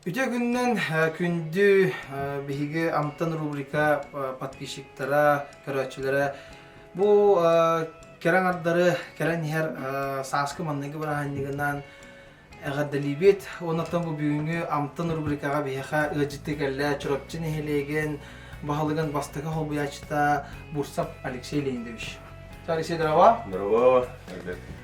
Үтүө күнүнэн күндү биһиги Амтан рубрика подписчиктара, көрөөччүлэрэ бу кэрэ аҥардары кэрэн иһэр сааскы манныгы бырааһынньыгынан эҕэрдэлиибит уонна бу бүгүҥҥү Амтан рубрикаҕа биһиэхэ ыалдьыттыы кэллэ Чурапчы нэһилиэгин баһылыгын бастакы холбуйааччыта Бурсов Алексей Леонидович. Алексей, здорово. Здорово.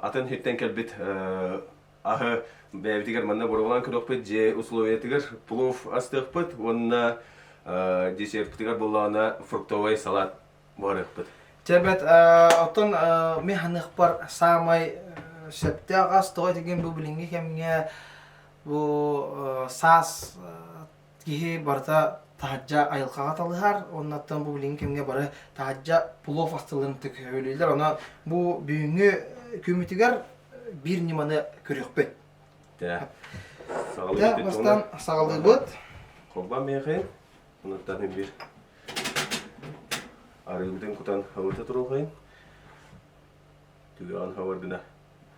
атын хиттэн кэлбит аһы бэйэбитигэр манна боруолаан көрүөхпүт дьиэ условиятыгар плов астыахпыт уонна десертпытыгар буоллаҕына фруктовый салат буһарыахпыт Чэ, бэт оттон ми ханыахпар саамай сөптөөх ас тоҕо этигин бу билиҥҥи кэмҥэ бу саас киһи барыта таһырдьа айылҕаҕа талыһар уоннаттан бу билигин кэмҥэ бары таһырдьа плов астыллымтык өлүүллэр ону бу бүгүҥҥү күммүтүгэр биир ньыманы көрүөхпүт саҕалыыбыт бастан саҕалыыбыт холбон миэхин унуттан бир арыыбытын кутан хабырта туруохайын түгэҕин хабардына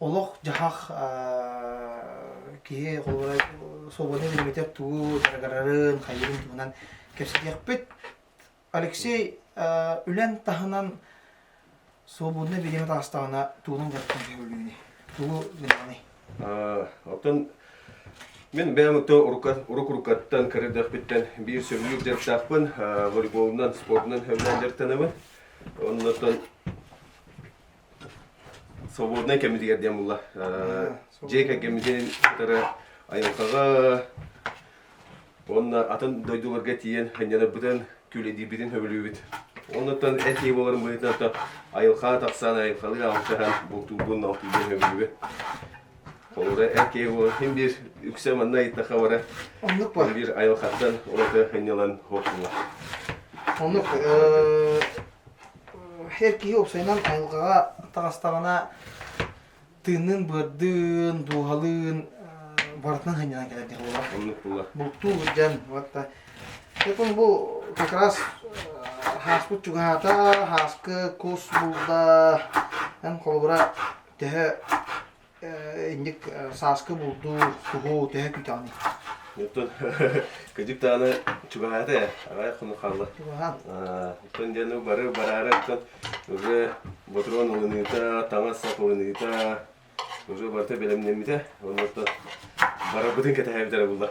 олох-дьаһах киһи холобура суобаны үөрэммитэр тугу дaragarарын хайыырын туһунан кэпсэтиэхпит. Алексей үлэн таһынан суобунна билиэм таастаҕына тугунан даттан сөбүлүүнү тугу гынаҕыный? Оттон Мен бэйэм оттон урукурукаттан кырдыахпиттэн биир сөбүлүүр дьарыктаахпын волейболунан спордунан сөбүлээн дьарыктанабын оннотон Свободнай кэмитигэр диэн булла. Дьиэ кэргэммитин кытары айылҕаҕа уонна атын дойдуларга тиийэн анньанарбытын, күлэдиирбитин сөбүлүүбүт. Оннуттан эти буоларын быһыытынан айылҕаҕа тахсан, айылҕалыы алтыһан, бултуурбун алтыырбын сөбүлүүбүт. Холобура, эр киһи буолан син биир үксэ манна ыйыттахха бара оннук бар. Биир айылҕаттан ураты анньылан охсулла. Оннук. Эр киһи уопсайынан айылҕаҕа таҕыстаҕына тыынныын быардыын, дууһалыын барытынан сынньанан кэлэр дии буолар. Оннук буолар. Бултуу сылдьан ватта. Дьон бу как раз һааспыт чугаһаата, һааскы кус булда, эн холобура төһө инник сааскы булду суһу төһө күтэҕиний? Оттон кыдьык даҕаны чугаһаата ээ, аҕай хонук хаалла. Чугаһаан. Оттон диэн бары бараары оттон уже Ботурон ылыныыта, таҥас сап ылыныыта уже барыта бэлэмнэммитэ. Онно оттон барарбытын кэтэһээбит эрэ булла.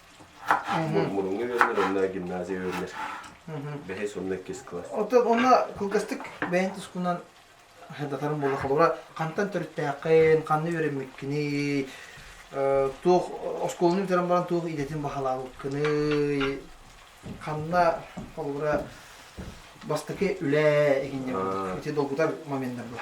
Мурунга үөрэнэр, онно гимназия үөрэнэр. Бэһис онно иккис класс. Оттон онно кылгастык бэйэн тускунан хардатарым буолла холобура хантан төрүттээххин, ханна үөрэммиккиний, туох оскуоланы бүтэрэн баран туох идэтин баһалаабыккыный, ханна холобура бастакы үлэ эһиннэр ити долгутар моменнар була.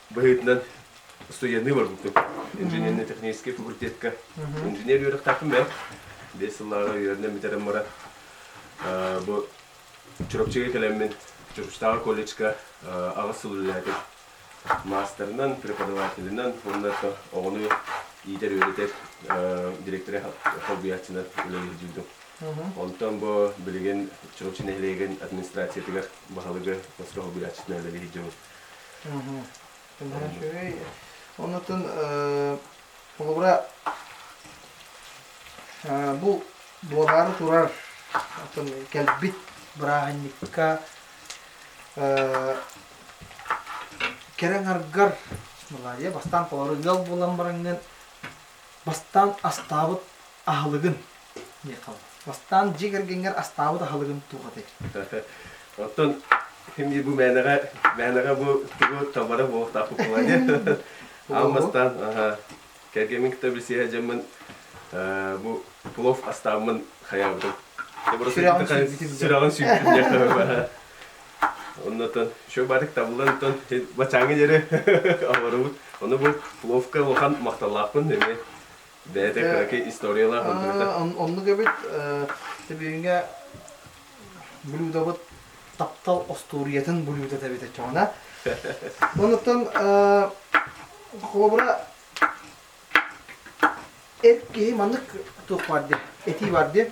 быһыытынан суйаныы барбыппыт. Инженерно-техническэй факультетка инженер үөрэхтээхпин бэйэм. Биэс сыллааҕы үөрэнэн бүтэрэн баран бу Чурапчыга кэлэммин Чурапчытааҕы колледжка аҕыс сыл үлэлээтим. Маастарынан, преподавателинэн уонна оҕону иитэр-үөрэтэр директоры холбуйааччынан үлэлиирдиирdim. Онтон бу билигин Чурапчы нэһилиэгин администрациятыгар баһылыгы хоско холбуйааччытынан үлэлиһиирдьэбин. Үчүгэй. Онутун холобура бу буолаары турар атын кэлбит бырааһынньыкка кэрэ ҥаргар Малайя бастаан толору ыал буолан бараҥҥын Бастаан астаабыт аһылыгын диэх хаалла. Бастаан дьиэ кэргэнгэр астаабыт аһылыгын туох этэй? Оттон эмиэ бу мээнэҕэ мээнэҕэ бу тугу табара бу такукулание аам бастаан аха кэргэмин кытта билсиһэ дьэммин бу плов астааммын хайаабытым сүрэҕин сүүйбүтүм сүрэҕин сүүйбүтүм Оннотон чуобатык табыллан бачааҥҥа диэри олоробут. Ону бу ловко улахан махталлаахпын эмиэ бэйэтэ кыраки историялаах андыыта. Оннук эбит. Билиҥҥэ блюдобыт таптал остуоруйатын блюдо эбит оччоҕуна. Онуттан холобура эр киһи маннык туох баар диэ, этии баар диэ.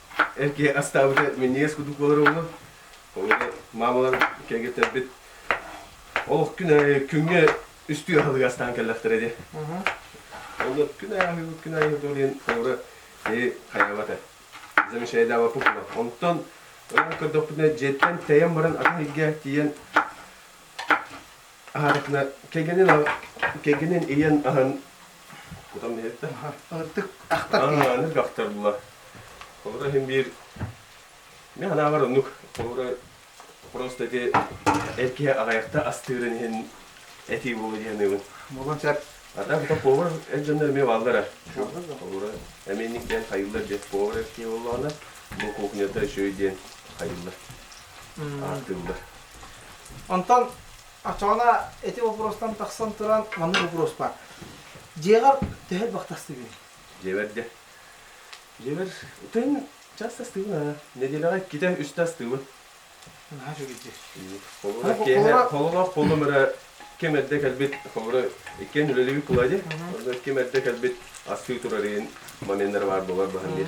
эки астаабыта миниэс кудук болар ону маамалар кэргеттербит олох күнэ күҥҥэ үстүү аһылыга астаан кэллэхтэрэ ди Олот күн айыыбыт күн айыыбыт олен тоора ти хайабата замещая дава пукула онтон ынан көрдөхпүтүнэ дьиэттэн тэйэн баран атын ийгэ тиийэн кэргэнин кэргэнин ийэн аһын кутан иһэрдэ. Ытык тахтар. Аны тахтарла. Холура иһин биир мен анааҕар оннук холура просто ити эркиһэ аҕайахта астыырын иһин этии буолу диэныыбын. Болон сэр. Атаан тута повар элдьэннэр эмиэ бааллара. Холура эменник диэн хайыллар диэн повар эркиһэ буоллаҕына, бу кухняда еще и диэн хайыллар. Биллэр. Онтон Ачаана эти вопростан тахсан туран маннык вопрос бар. Дьиэҕэр төһө бахтастыгын? Дьиэбэр дьэ. Дьиэбэр ытын чаас астыыбын. Нэдиэлэҕэ иккитэ үстэ астыыбын. Наһаа үчүгэйдиир. Холура киэһэ холлоох буоллум эрэ ким эрдэ кэлбит холура иккиэн үлэлиибит тулай дии. Ким эрдэ кэлбит астыы турар моменнар баар буолар баһын диир.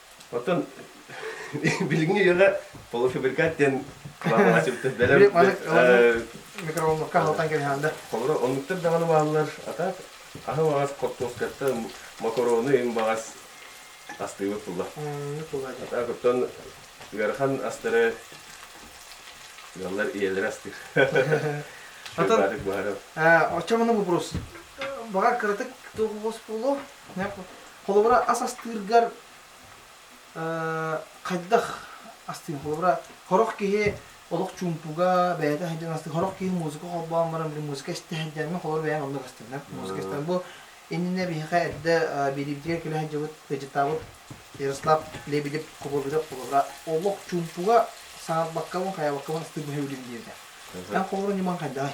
Оттон билиҥҥи үйэҕэ полуфабрикат диэн кылаабаҕа сүптэр бэлэм микроволновка аһылтан кэбиһээнде. Холоро оннуктар даҕаны бааллар. Атаат аһы баҕас кортоскатта макароны им баҕас астыыбыт булла. Атаат оттон ыарахан астары ыаллар ийэлэр астыыр. Атын, оччомуну вопрос. Баҕар кыратык туох буолуо? Холобура, ас астыыргар хайдах астыым? Холобура, хорох киһи олох чуумпуга, бэйэтэ сылдьан астыыр. Хорох киһи музыка холбоон баран, били музыка истэ сылдьан, мин холобур бэйэм оннук астыам. Музыка истэм. Бу иннинэ биһиэхэ эрдэ бириэбитигэр күлэ сылдьыбыт, ыйдьыттаабыт Ярослав Лебедев Кубобидов холобура олох чуумпуга, саҥарбаккабын, хайаабаккабын астыырбын өлүм диэтэ. Эн холобур ньымаҥ хайдаҕый?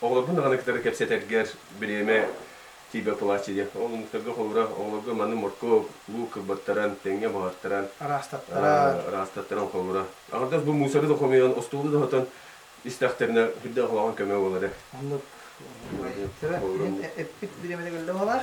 Оҕолорбун даҕаны кытары кэпсэтэргэр бириэмэ тиийбэ платье диэн. Ол омуктарга холобура, оҕолорго маны моркуоп, луук кыббаттаран, тэҥҥэ буһартаран, ыраастаттаран холлура. Аҥардас бу мусору да хомуйан, остуолу да оһотон истэхтэринэ үрдээх улахан көмө буолара. Оннук. Эппит бириэмэтэ өллө оҕолоор.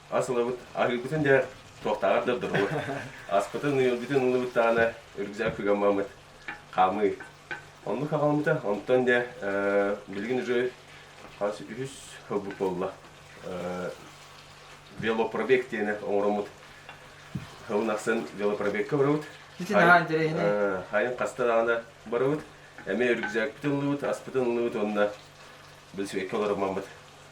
ас ылабыт, аһыырбытын дьэ туохтааҕар да ордоробут. Аспытын, ыйылбытын ылыбыт даҕаны үргүзэҕэ кыгаммаммыт хаамыы. Оннук хаҕаламмыта. Онтон дьэ билигин уже хас үһүс ылбыт буолла. велопробег диэни оҥороммут. Ылын ахсын велопробегка барабыт. Ити наһаа интэриэһинэй. Хайын хаста даҕаны барабыт. Эмиэ үргүзэкпитин ыллыбыт, аспытын ыллыбыт уонна билсибекке олороммаммыт.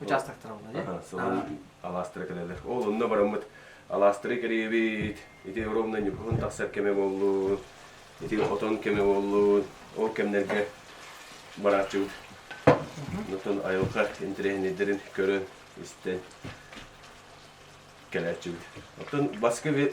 участоктар оллар алаастыра кэлелер ол онно бараммыт алаастыры кэриэбит ити ровно ньукуһун тахсар кэмэ боллун ити отон кэмэ боллун ол кэмнэргэ барааччыбыт оттон айылҕа интэриэһинэйдэрин көрөн истэн кэлээччибит оттон баскы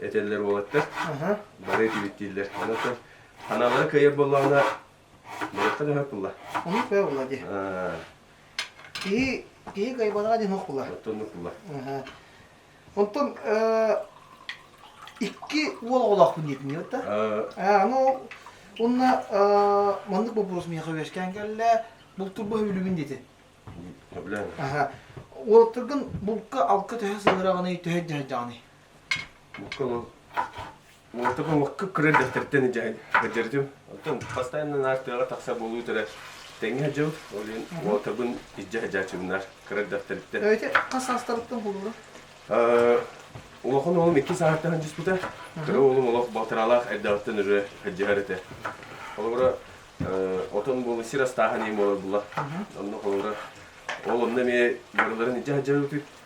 этэллэр уолаттар. Бары этибиттииллэр. Онон ханалары кыайар буоллаҕына, быраттан өһөр булла. Ону кыа булла ди. Киһи киһи кайбанаҕа дин хохула. Оттоннук булла. Онтон икки уол оҕолоохпун диэтин ютта. Аны Онна маннык бопурус миэхэ үөскээн кэллэ, бултурбах үлүбүн дити. Ага. Уолаттаргын булка алка төһө сыгыраҕыный, төһө дьаһайдаҕыный? Муортака кырыардахтартан дьаһайт кырдьардым. Оттон бастайынан аар тыаҕа тахса буолуу тара тэҥҥэ дьыл, ол иһин муортабын иждэ хадьаачымнар кырыардахтарыттан. Эти хас саастарыттан булулар? Улахан уолум иккис аартаһан дьиспута. Кыра уолум олох батыралаах эрдэҕиттэн үрүө хадьыһар этэ. Холобура, отон буолу сир астааһын ем буолар була. Онно холобура, ол онно эмиэ барыларын иждэ хадьаабыппыт.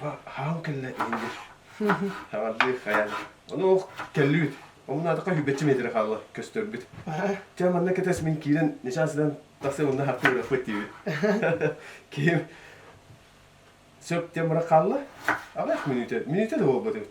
Хаал кэллэ иһиллэр. Хаҕардыы хайан. Онуох кэллибит. Омунаатыкка үһүйбэччи миэтэрэ хаалла көстөрбүт. Чэ манна кэтэс мин киирэн нечаас гынан тахсан онно хартыы бырахпыт диибит. Киһим сөп диэн бырах хаалла. Аҕыйах мүнүүтэ. Мүнүүтэ да буолбат эбит.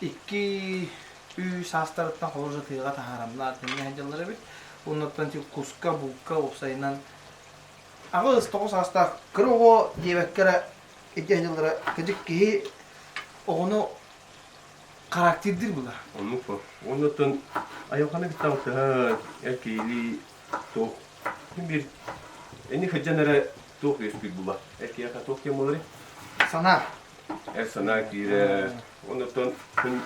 икки ү саастарыттан холуруш атыыга таһаарамнаат иннэ сылдьаллар эбит оннуттан тип куска булка уопсайынан аҕыс тоҕус саастаах кыра оҕо диэбэккэ эрэ ити сыллара кыдьык киһи оҕону характердир бұлар оннук оннуттан айылханы биттаҕыттаһа эр киһилии туох бир эни хыджан эрэ туох үөспүт була эр киһиэхэ туох диэн болары сана эр санаа киирэр. Онтон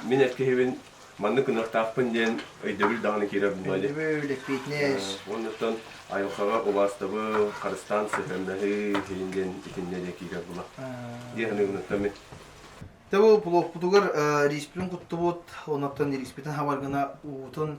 мин эр киһибин маннык гыныахтаахпын диэн өйдөбүл даҕаны киирэр буолуо дии. Өйдөбүл, фитнес. Оннуттан айылҕаҕа убаастабыл, харыстаан сыһыаннаһыы сирин диэн итиннэ киирэр буолуо дии саныыбыныттан мин. Тэ бу блокпутугар риспитин куттубут, оннуттан риспитин хабаргына уутун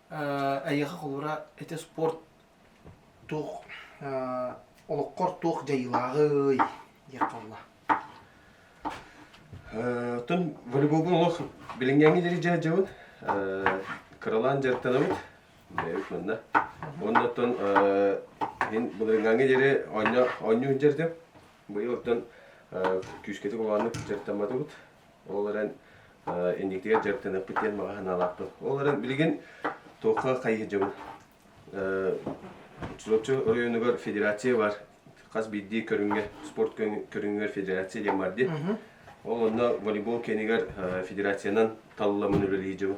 Эйиэхэ холура ити спорт туох олоххор туох дьайыылааҕый диэх буолла. Тун волейболбун олох билиҥҥэҥҥи дири дьаһдьабыт кыралаан дьарыктанабыт бэйэбит манна уонна оттон мин былырыҥҥаҥҥы диэри оонньуу сылдьардым быйыл оттон күүскэтик улааннык дьарыктамматыбыт Ол эрэн инникитигэр дьарыктаныахпыт диэн баҕа санаалаахпын. Ол эрэн билигин туохха хайыһы дьоҥҥут? Чулаччы оройуонугар федерация бар. Хас биирдии көрүҥҥэ, спорт көрүҥүгэр федерация диэн бар дии. Ол онно волейбол киэнигэр федерациянан талыламын үлэлиир дьонум.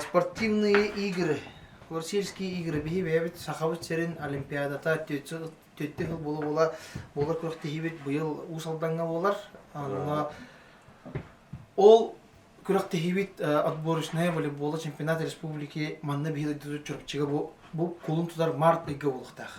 Спортивные игры. Корсельские игры биһи бэйэбит Сахабыт сирин Олимпиадата төрдүс сыл була була буолар күрэхтэһиибит быйыл Уус Алдаҥҥа буолар. Онно ол күрэхтэһиибит отборочная волейболла чемпионат республики манна биһи дойду чурапчыга бу бу кулун тутар март ыйга буолуохтаах.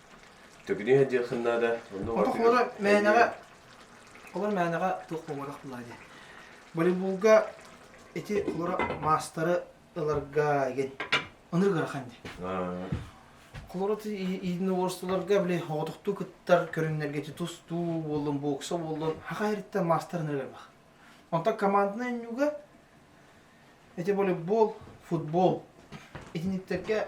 Төкүнү диэххин наада. Онно Онтох уора мээнэҕэ олор мээнэҕэ туох буолбатах буолаа диэн. Волейболга ити олора маастары ыларга игин ыныр ырахан ди. Холорот иидин уорустуларга биле оҕотохтуу кыттар көрүннэргити тустуу буоллун, бокса буоллун, хаха эриттен маастарын ырар бах. Онтан командна иннюга эти волейбол, футбол итиниктерге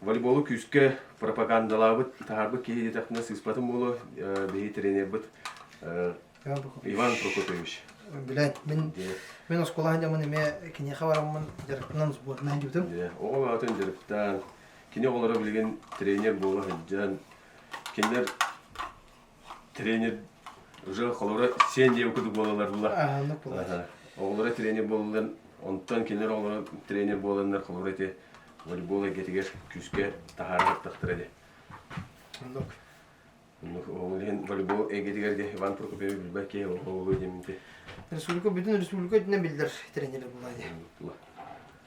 волейболу күүскэ пропагандалаабыт, таһаарбыт киһи диэтэхтэринэ сыыспатым буолуо, биһи тренербыт Иван Прокопьевич. Билэн, мин, мин оскуолаһын дьомун эмиэ киниэхэ бараммын дьарыктынан сборнай диэбитим. Оҕо баҕатын дьарыктаан, кини оҕолоро билигин тренер буола сылдьан, кинилэр тренер уже холоро сен диэби кудук буолалар була оҕолоро тренер буолалар онтон кинилэр оҕолоро тренер буоланнар холоро ити волейбол эйгэтигэр күүскэ таһаара сыттахтар эди ол иһин волейбол эйгэтигэр де Иван Прокопьевич билбэ киһи оҕолу деминти республика бүтүн республика өтүнэн биллер тренер була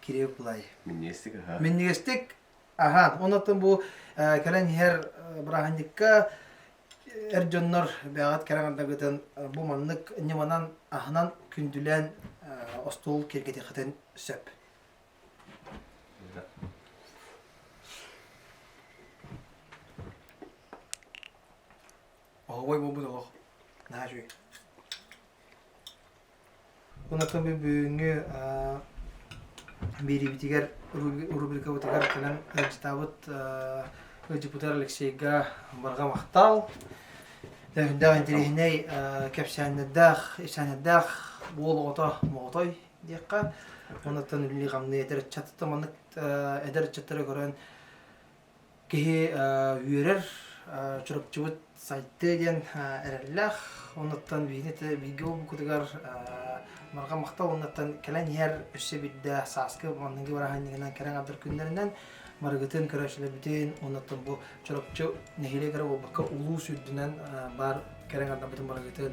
кириэп былай. Минньиэстик, аһаа. Минньигэстик, аһаа. Оннотон бу кэлэн иһэр бырааһынньыкка эр дьоннор бэҕэт кэрэҕэрдагытын бу маннык ньыманан аһынан күндүлээн остуол киэргэтиэхитин сөп. Оһоҕой буолбут олох. Наһаа үүй. Унакыби бүгүҥҥү биэриибитигэр рубрикабытыгар кэлэн ыалдьытаабыт ыалдьыппытыгар Алексейга барҕа махтал. Өһүндээх интэриэһинэй кэпсээннэрдээх, эчээннэрдээх уол оҕото моҕотой диэххэ. Онуттан үллии-хамныы эдэр ыччаттар маннык эдэр ыччаттары көрөн Киһи үөрэр Чурапчыбыт сайты диэн эрэллээх. Онуттан бииргэ буукутугар марга махтал онуттан кэлэн иһэр өссө бирдэ сааскы манныгы бараһынньыгынан кэрэң абдар күннэринэн барыгытын көрөөчүлөрбүтүн онуттан бу Чурапчы нэһилиэгэр буолбакка улуус үрдүнэн баар кэрэң аддарбытын барыгытын